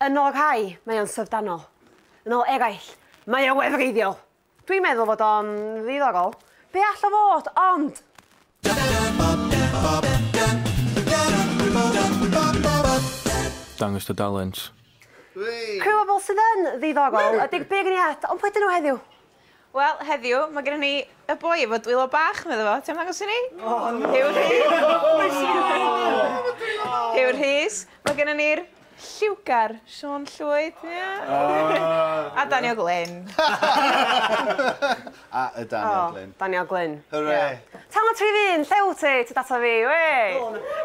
Yn ôl rhai, mae o'n syfrdanol. Yn ôl eraill, mae o wefreiddiol. Dwi'n meddwl fod o'n ddiddorol. Be all o fod, ond? Dangos dy dalent. Rhyw o bobl sydd yn ddiddorol ydy'r beirniad, ond pwy ydyn nhw heddiw? Wel, heddiw, mae gennym ni y boi efo dwylo bach, medda fo. Ti'n ymddangos i ni? O, no! Huw Rhys! Huw Rhys. Mae gennym ni'r lliwgar, Siôn Llwyd. A Daniel Glyn. A y Daniel Glyn. O, Daniel Glyn. Hwre! Tan y trif un, lle wyt ti? Ti dod ato fi, wei!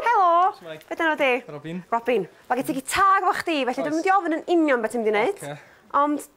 Helo! Shwmae? Be dyna di? Robin. Robin. Mae gen ti gitar efo chdi, felly dwi'n mynd i ofyn yn union beth ti'n mynd i wneud. Ocê. Ond,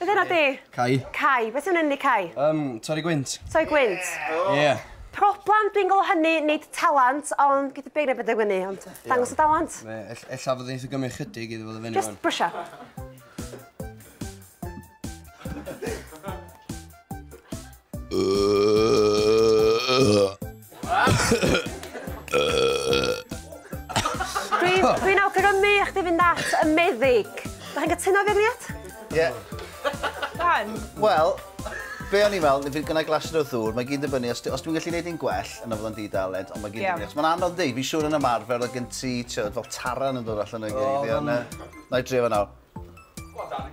Beth arall di? Cau. Cau. Beth sy'n mynd i cau? Um, torri gwynt. Torri gwynt? Ie. Yeah. Yeah. Problem, dwi'n gweld hynny, nid talent, ond gyda beth neu beth yw'n ni, ond dangos y talent. Ie, ella fod eitha gymryd chydig iddo fod y fyny. Just brwsio. Dwi'n dwi awgrymu i chdi fynd at y meddyg. Dych chi'n cytuno efo'r Ie. Yeah. Rhan? Wel, be o'n i'n meddwl, fydd gynnau glasur o ddŵr, mae gyd yn fyny, os, os dwi'n gallu gwneud un gwell, yna fydd o'n di-dalent, ond mae gyd yn fyny. Mae'n anodd dweud, fi'n siŵr yn ymarfer, o gen ti, fel taran yn dod allan o'i geiriau. Na i drio fe nawr. Go on, Dani.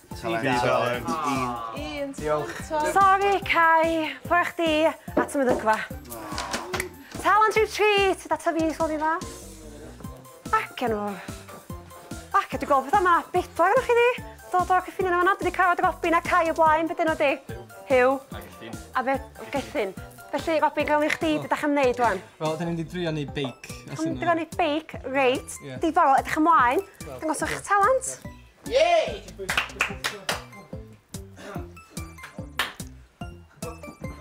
Tudalen un. Diolch. Sori, Cai. Pwy chdi at y meddygfa? Talent rhyw treat, da tyfu i sôn i dda. Ac enw. Ac edrych gweld pethau yma, bethau gyda chi di. Dod o'r cyffiniau yma, dwi wedi cael dy gopi na Cai o blaen, beth enw di? Hugh. A Gethin. A fe, Gethin. Felly, Robbie, gael i chdi, beth ydych chi'n gwneud rwan? Wel, dyn ni'n di drio ni beic. Dyn ni'n drio ni beic, reit. Diddorol, edrych ymlaen. Dangos o'ch talent. Yay!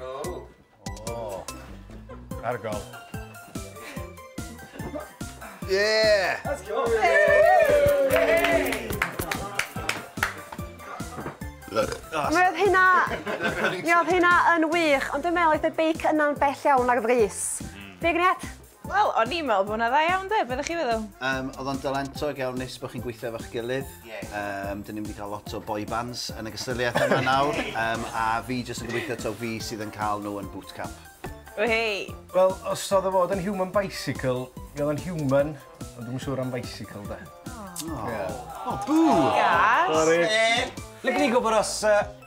Oh. Oh. Argol. Yeah! That's cool. Mi oedd hynna... Mi oedd hynna yn wych, ond dwi'n meddwl oedd y beic yna'n bell iawn ar frys. Fi, Gret? Wel, o'n i'n meddwl bod hwnna dda iawn 'de, be dach chi'n feddwl? Yym, oedd o'n dalentog iawn, neis bod chi'n gweithio efo'ch gilydd. Yym, dyn ni'n mynd i cael lot o boy bands yn y gystadleuaeth yma nawr, yym, a fi jyst yn gobeithio taw fi sydd yn cael nhw yn bootcamp. Whei! Wel, os oedd o fod yn human bicycle, mi oedd o'n human, ond dwi'm yn siŵr am bicycle 'de. O! O! Bŵ! Gas! Sori. Sori. Ble gwn i gwybod os yy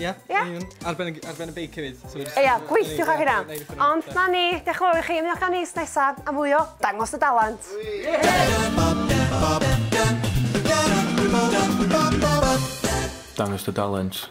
Ia? Ia? Ar ben y ar ben y beic hefyd. So jyst... Ia, gweithiwch ar hynna. Ond 'na ni, dioch yn fawr i chi, ymuno â ni wsnos nesa am fwy o Dangos dy dalent. Dangos dy dalent.